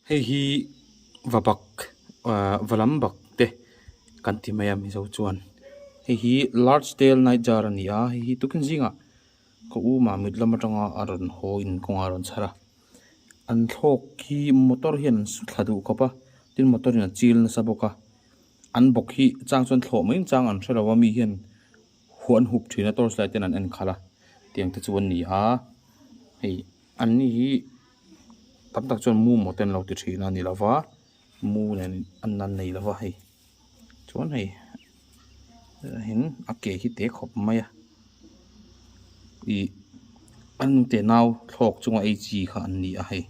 Hei hi va bak ah va lam bak te kan ti mai a mizo chuan hei hi large tale night jar a ni a hei hi tuikhim zingah ka um a mit lam atanga a rawn haw in kawngah a rawn chhar a an thlawk hi motor hian an su thla duh khawp a tin motor in a chil nasa bawk a an bawk hi chang chuan thlawh mai chang an hre lo a mi hian-- Khuan hup thina torch light ten an en khalh a tiang te chu an ni a hei an ni hi tam tak chuan mumaw ten lo ti thina a ni lo va mu nen a nan nei lo va hei chuan hei heng a ke hi te khawp mai a ih an te nau thlawk chunga ei chi kha an ni a hei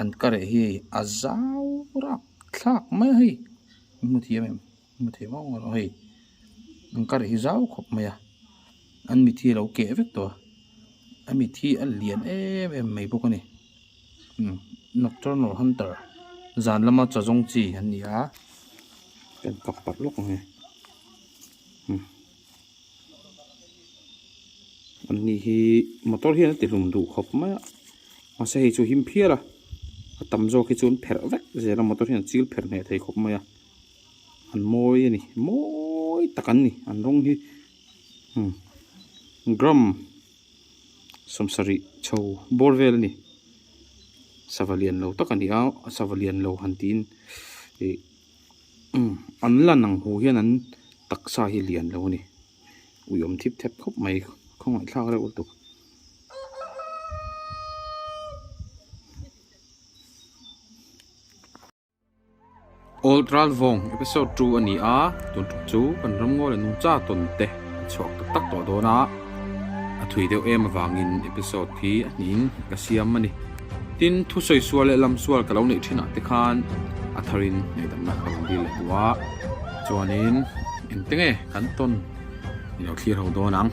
an ka reh hi a zau rak thlak mai a hei hemi hmuthiam em. hmu thei vang erawh hei an ka reh hi zau khawp mai a an mithi hi a lo keh vek tawh a a mithi a lian em em mai bawk a ni umm nocturnal hunter zan lama chaw zawng chi an ni a kan kap pat lawk ang e umm an ni hi motor hian a ti hlum duh khawp mai a mahse hei chu a him phial a a tam zawk hi chu an pherh vek zel a motor hian a chil pherh ngheh thei khawp mai a. an mawi a ni mawi tak an ni an rawng hi umm gram sawmsarih chho bawr vel a ni sava lian lo tak a ni a sava lian lo han tiin ih umm an lan ang hu hian an taksa hi lian lo a ni ui awm thip thap khawp mai khawngaihthlak reuh lutuk. Old Ralvawng episode two a ni a, tun tuk chu kan ramngaw le nungcha tawn te a chhuak tak tak tawh dawn a, a thui deuh em avangin episode hi a hnihin ka siam a ni. Tin, thusawi sual leh lam sual ka lo neih thin ah te khan a tharin ngaihdamna ka rawn dil leh hnu a, chuanin engte nge kan tawn i lo thlir ho dawn ang.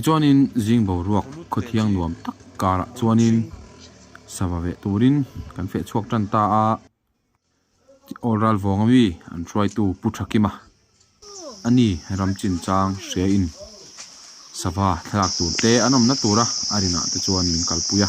Tichuanin zing boruak khawthiang nuam tak karah chuanin sava veh turin kan fehchhuak tan ta a. Awlral vawng ami an hruaitu Pu Tha Kima a ni ram chin chang hriain sava thlak tur te an awmna tura a rinah te chuan min kalpui a.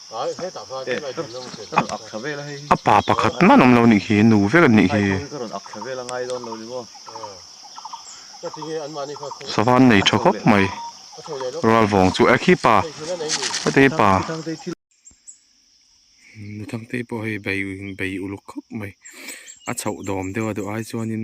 A pa pakhat man awm lo nih khi nu vek an nih khi. Sava an nei tha khawp mai. Rual vawng chu khi pa hetihi pa. Nuthangtei pawh hei bei uluk khawp mai. A chhoh dawm deuh a duh ai chuan in.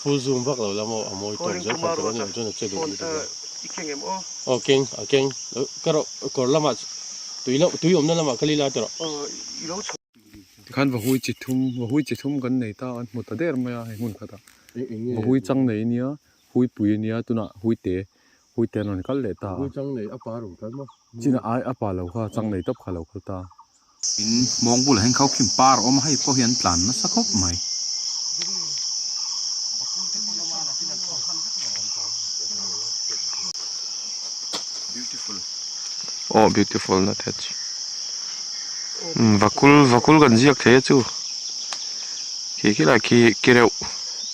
Full zoom vak lo la maw a mawi tawk zel khan ka rawh chuan a che duh ni tawh hian aw keng a keng ka rawh kawr lamah tui lamah tui awmna lamah ka lih la tawrh tikhan vahui chi thum vahui chi thum kan nei ta an hmu ta der mai a he hmun khatah vahui chang nei a nia huipui a nia tunah huite puite an rawn kal leh ta a, chinah ai a pa lo kha chang nei tawp kha lo kal ta. In mawng bulah hian khaukhim par a awm a, hei pawh hi an tlan nasa khawp mai. Aw beautiful na te chu vakul vakul kan ziak thei a chu khi khilai khi ki reuh.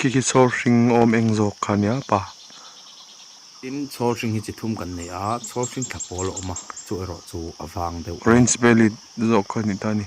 Khikhi chhawr hring awm eng zawk kha nia pa? Tin, chhawr hring hi chi thum kan neih a, chhawr hring tla pawl a awm a, chu erawh chu a vang deuh a ni. Orange bellied zawk kha a ni ta a ni.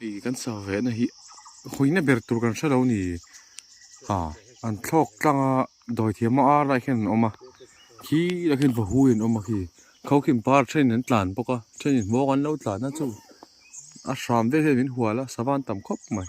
Hei kan sawi ve na hi huina ber tur kan hrelo a ni a an thlawk tlang a dawi thiam hmang a lah hian an awm a khi lah hian vahu hi an awm a khi kho khi par then an tlan bawk a then in hmawk an lo tlan a chuh a hram vel hian min hual a savan tam khawp mai.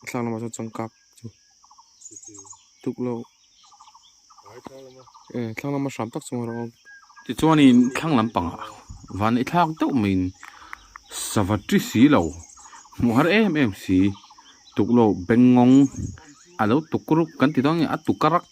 a thlang lamah sawn changkak chu tukloh eh thlang lama hram tak chunga rawng tichuanin thlang lampangah vanei thlak deuh maiin sava ṭi si lo hmuh har em em si tukloh bengawng a lo tuk ruk kan ti dawn a nia a tuk a rak--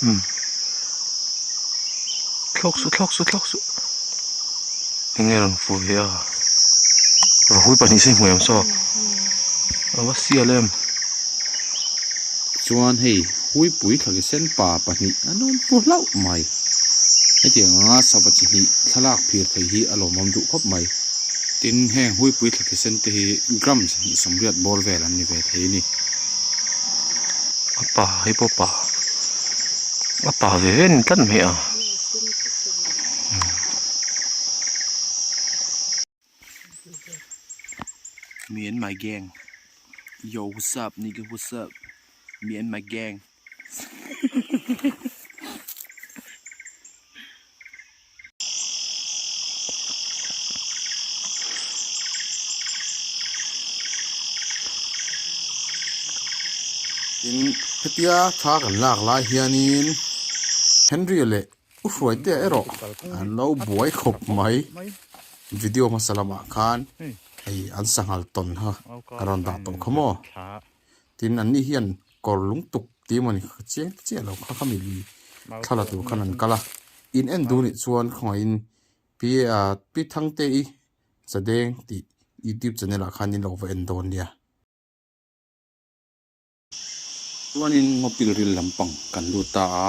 Hmm. Thlawk suh, thlawk suh, thlawk suh. Enge rawn fuh hi a. Rahui pahnih se hmuh em saw? A va sial em. Chuan hei hui pui thlaki sen pa pahnih an awm pu hlauh mai. Hetiang anga sava chi hnih thlalak phir theih hi a lawmawm duh khawp mai. Tin, heng huipui thla thli sen te hi grams sawmriat bawr vel an ni ve thei a ni. A pa hi pawh pa, a pa ve ve ni tlat mai a. Me and my gang, yo what's up nigga what's up, me and my gang. tin hetia thla kan lak lai hianin henry leh u hruaite erawh an lo buai khawp mai video hmasa lamah khan hei an sanghalh tawn kha ka rawn dah tawh kha maw. tin anni hian kawr lungtuk tih emawni chiang te chiah lo kha kha mibi thla la tur khan an kal a in en duh anih chuan khawngaihin pi a pi thangtei chadeng tih youtube channel ah khan in lo va en dawn nia. Chuanin mawpil ril lampang kan lut ta a.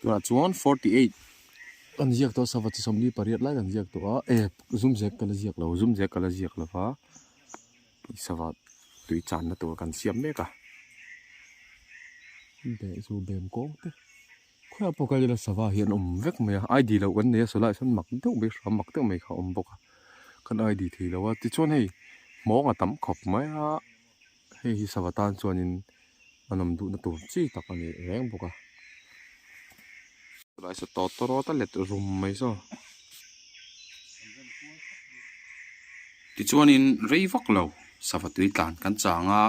Tunah chuan forty eight kan ziak tawh a sava chi sawmli pariat lai kan ziak tawh a e zum zek kala ziak lo zum zek kala ziak lo va i sava tui chan na tur kan siam mek a be zu bem kawng te khua pawh ka lela sava hi an awm vek mai a id lo kan nei a solai sawn mak deuh mai hram mak deuh mai kha a awm bawk a kan id thei lo a tichuan hei hmawng a tam khawp mai a. Hei hi sava tan chuanin a nawm duhna tur chi tak a nih reng bawk a. Chulai saw tawt tawt rawt a let rum mai saw. Tichuanin rei vak lo sava tui tlan kan chang a.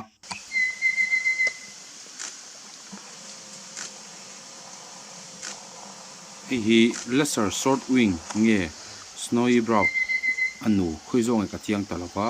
Hei hi lesser swordwing nge snowy brow a nu khawi zawk nge ka chiang ta lo va.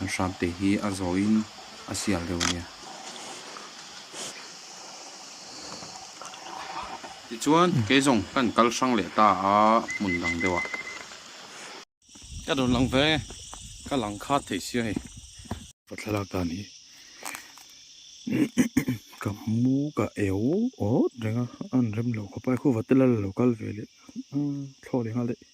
An hrap te hi a zawiin a sial reuh ania. Tichuan, kei zawng kan kal hrang leh ta a hmun dang deuha. Ka rawn lang ve, ka lang khat thei sia hei. Ka thlalak dan hi ka hmu ka eu awt reng a, a an rem lo ka pa e khuva te la la lo kal ve leh a, thlawt inghal daih.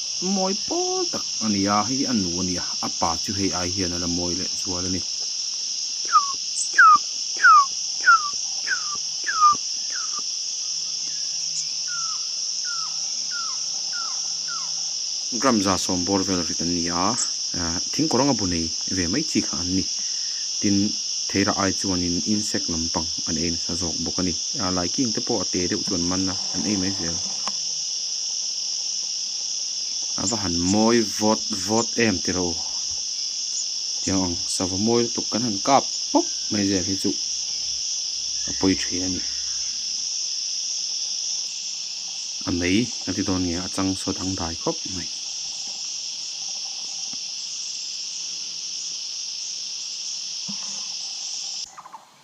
Mawi pawl tak a ni a, hei hi a nu a nia, a pa chu hei ai hian a la mawi leh zual a ni. Gram za sawm bawr vel rit an ni a, thing kawr anga bu nei ve mai chi kha an ni. Tin, Theira ai chuanin insect lampang an ei nasa zawk bawk a ni. Laiking te pawh a te deuh chu an man a, an ei mai zel. Ava han mawi vawt vawt em tiro tia ang. Sava mawi lutuk kan han kap pawp mai zel hi chu a pawi thin a ni. A mei a ti dawn nia a chang saw dang dai khawp mai.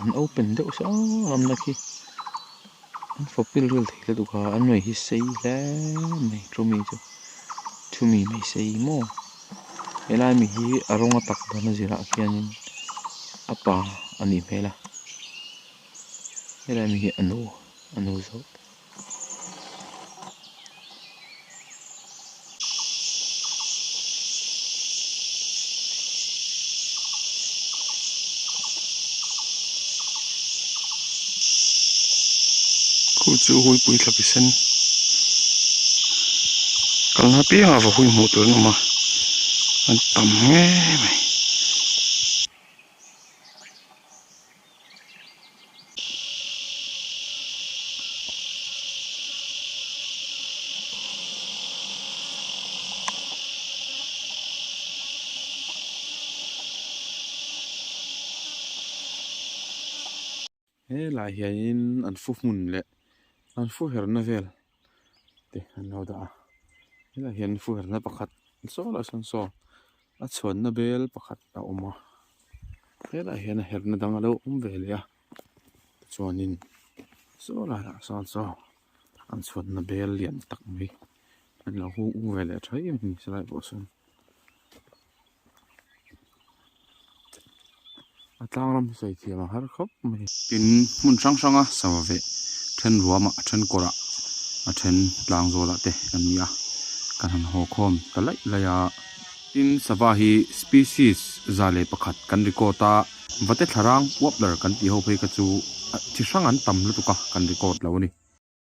an open deuh sa lam na khi an fapil ril thei ta duk a an nuih hi sei hle mai chumi chu chumi mai sei maw he lai mi hi a rawng a tak dan a zirah khian in a pa a nih hmel a he lai mi hi a nu a nu zawk. khu chu a huipui thlap i sen kalna piangah va hui hmuh tur an awm a an tam nge mai. He lai hianin an fu hmun leh an fu herna vel. te an lo dah a helaiah hian fuihrna pakhat saw lai sawn saw a chhuanna bel pakhat a awm a helaiah hian a herhna dang a lo awm ve leh a tichuanin saw laiah sawn saw an chhuanna bel lian tak mai an lo hung ung ve leh tha em em ni se lai pawh sawn. a tlang ram hi sawi thiam ang har khawp mai a ni. Tin, hmun hrang hranga sava ve then ruama, then kawrah, then tlang zawlah te kan ni a, kan han haw khawm ta laih laih a. Tin, sava hi species za leh pakhat kan record a, vate thlarang, warbler, kan tih ho phei kha chu chi hrang an tam lutuk a kan record lo a ni.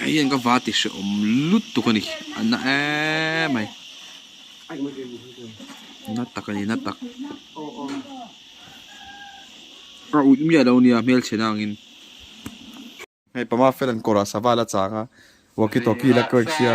Hei hian ka va ti hre awm lutuk a ni. A na eee mai. Na tak a ni, na tak. Ka ût miah lo nia hmelchhiahna angin. Hei Pama Fel an kawrah sava la chang a, walkie talkie la kawngsia.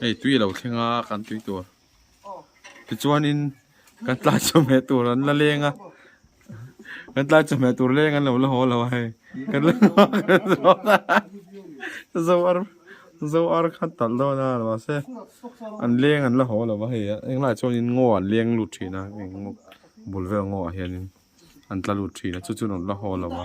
Hei tui alo thleng a kan tui tur tichuanin kan tlai chawhmeh tur an la leng a kan tlai chawhmeh tur leng an lo la haw lo a hei kan la hnu a kan zawk a zo ar zo ar khan talh dawn a mahse an leng an la haw lo a hei a englaiah chuanin ngaw an leng lut thin a heng ngaw bul vel ngawhah hianin an tla lut thin a chu chu an la haw lo a.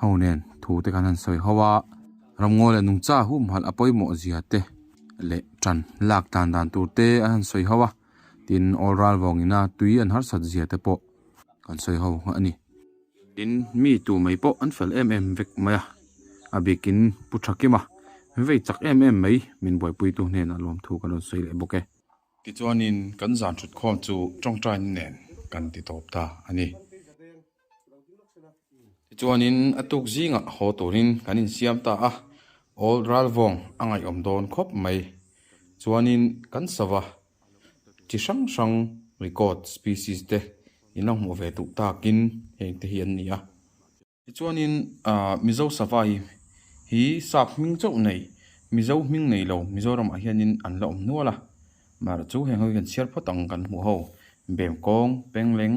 Ho nen thu te khan han sawi ho a, ramngaw leh nungcha humhalh a pawimawh zia te leh ṭan lak tlan dan tur te a han sawi ho a, tin awl ral vawng ina tui an harsat zia te pawh kan sawi ho nghah a ni. Tin, mi tu mai pawh an fel em em vek mai a, a bikin pu ṭha kim a, vei chak em em mai min buaipuitu hnenah lawmthu ka rawn sawi leh bawk e. Tichuanin kan zan ṭhutkhawm chu ṭawngṭaiin nen kan ti tawp ta a ni. Tichuanin a tuk zingah haw turin kan insiam ta a, awl ralvawng a ngaihawm dawn khawp mai. Chuanin kan sava chi hrang hrang record species te in la hmuh ve duh takin heng te hi an ni a. Tichuanin Mizo sava hi hi sap hming chauh nei, Mizo hming nei lo Mizoramah hianin an la awm nual a. Mar chu heng ho hi kan chhiar phawt ang kan hmuh ho, Bemkawng, Pengleng,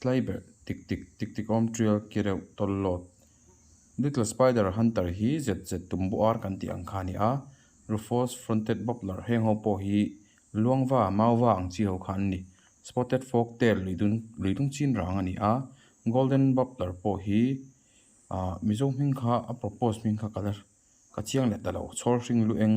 Tlai ber tik tik tik tik awm ṭial ki reuh tawl lawt. Little spider hunter hi zet zet tumbu ar kan tih ang kha a ni a, Rufous fronted warbler heng ho pawh hi luangva, mauva ang chi ho kha an ni. Spotted forktail lui dun lui dung chin rang a ni a, golden warbler pawh hi ah mizo hming kha a propose hming kha ka la ka chiang let ta lo, chhawr hring luh eng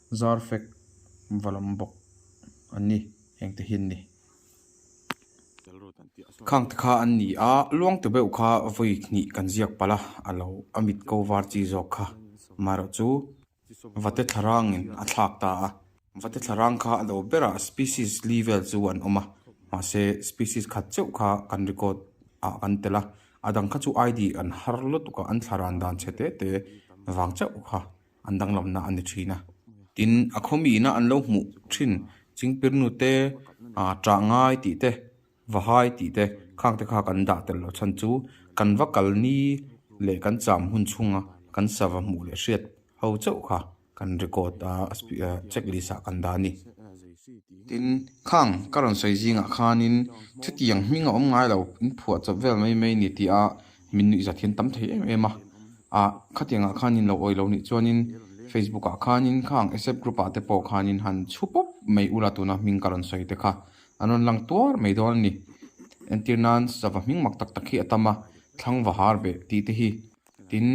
zar fek va lawm bawk an ni heng te hian ni. Khang te kha an ni a, luang te beuh kha vawi hnih kan ziak palh a, a lo a mit ko var chi zawk kha amaherawh chu va te thlarangin a thlak ta a, va te thlarang kha a lo berah species li vel chu an awm a, mahse species khat cheuh kha kan record ah kan tel a, a dang kha chu ID an har lutuk a, an thlarang dan chhe te te vang chauh kha. an danglamna a ni thin a. Tin, a khawmihna an lo hmuh thin Chingpirnu te, Ṭahngai tih te, Vahai tih te, khang te kha kan dah tel lo chhan chu kan va kal ni leh kan cham hun chhunga kan sava hmuh leh hriat ho chauh kha kan record a checklist ah kan dah a ni. Tin, khang ka rawn sawi zingah khanin chutiang hming a awm ngai lo, in phuah chawp vel mai mai ni tih a. Min nuih zat hian tam thei em em a, a khatiangah khanin lo awilo nih chuanin Facebook ah khanin kha ang Accept group ah te pawh khanin han chhu pawp mai ula tuna hming ka rawn sawi te kha an rawn lang tuar mai dawn a ni. Entir nan sava hming mak tak tak hi a tam a, thlang va har ve tih te hi. Tin,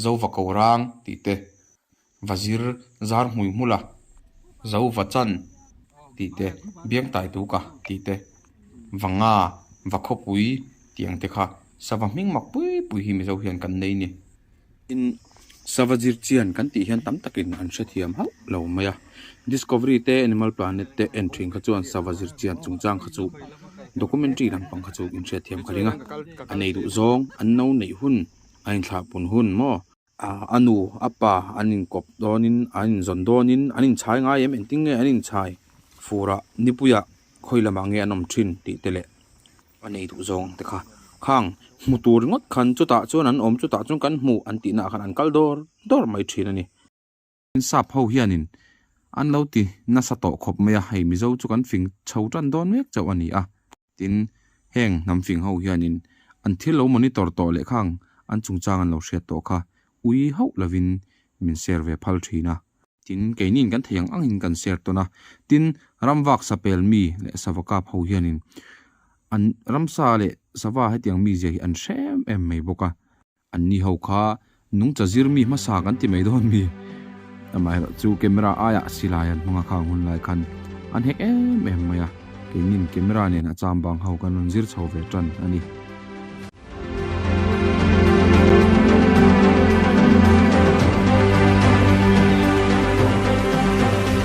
zo va ko rang tih te. va zir zar hmui hmul a, zo va chan tih te, biang tai tu ka tih te, va nga, va khawpui tih ang te kha sava hming mak pui pui hi mizo hian kan nei ni. Tin, sava zir chian kan tih hian tam takin an hrethiam hauh lo mai a. Discovery te Animal Planet te en thin kha chuan sava zir chian chungchang kha chu documentary lampang kha chu inhriat thiam ka ring a, a nei duh zawng, an no neih hun, a inthlah pun hun maw, ah a nu a pa an inkawp dawnin an inzawn dawnin an inchhai ngai em engtin nge an inchhai furah nipuia khawi lamah nge an awm thin tih te leh a nei duh zawng te kha khang hmu tur ringawt khan chutah chuan an awm chutah chuan kan hmu an tihnaah khan an kal dawr dawr mai thin a ni. Insap ho hianin an lo ti nasa tawh khawp mai a, hei Mizo chu kan fing chho tan dawn mek chauh a ni a. Tin, heng hnam fing ho hianin an thil lo monitor tawh leh kha ang, an chungchang an lo hriat tawh kha ui hauh lovin min share ve phal thin a. Tin, keinin kan thei ang angin kan share tawn a. Tin, Ramvak Sapel mi leh Savakap ho hianin an Ramsa leh Sava hetiang mi zia hi an hrem em mai bawk a. An ni ho kha nungcha zir mi hmasa kan ti mai dawn mi? Amaherawh chu camera aia silai an hmanga kha ang hun lai khan an hek em em mai a, keinin camera nen a cham bang ho kan rawn zir chho ve tan a ni.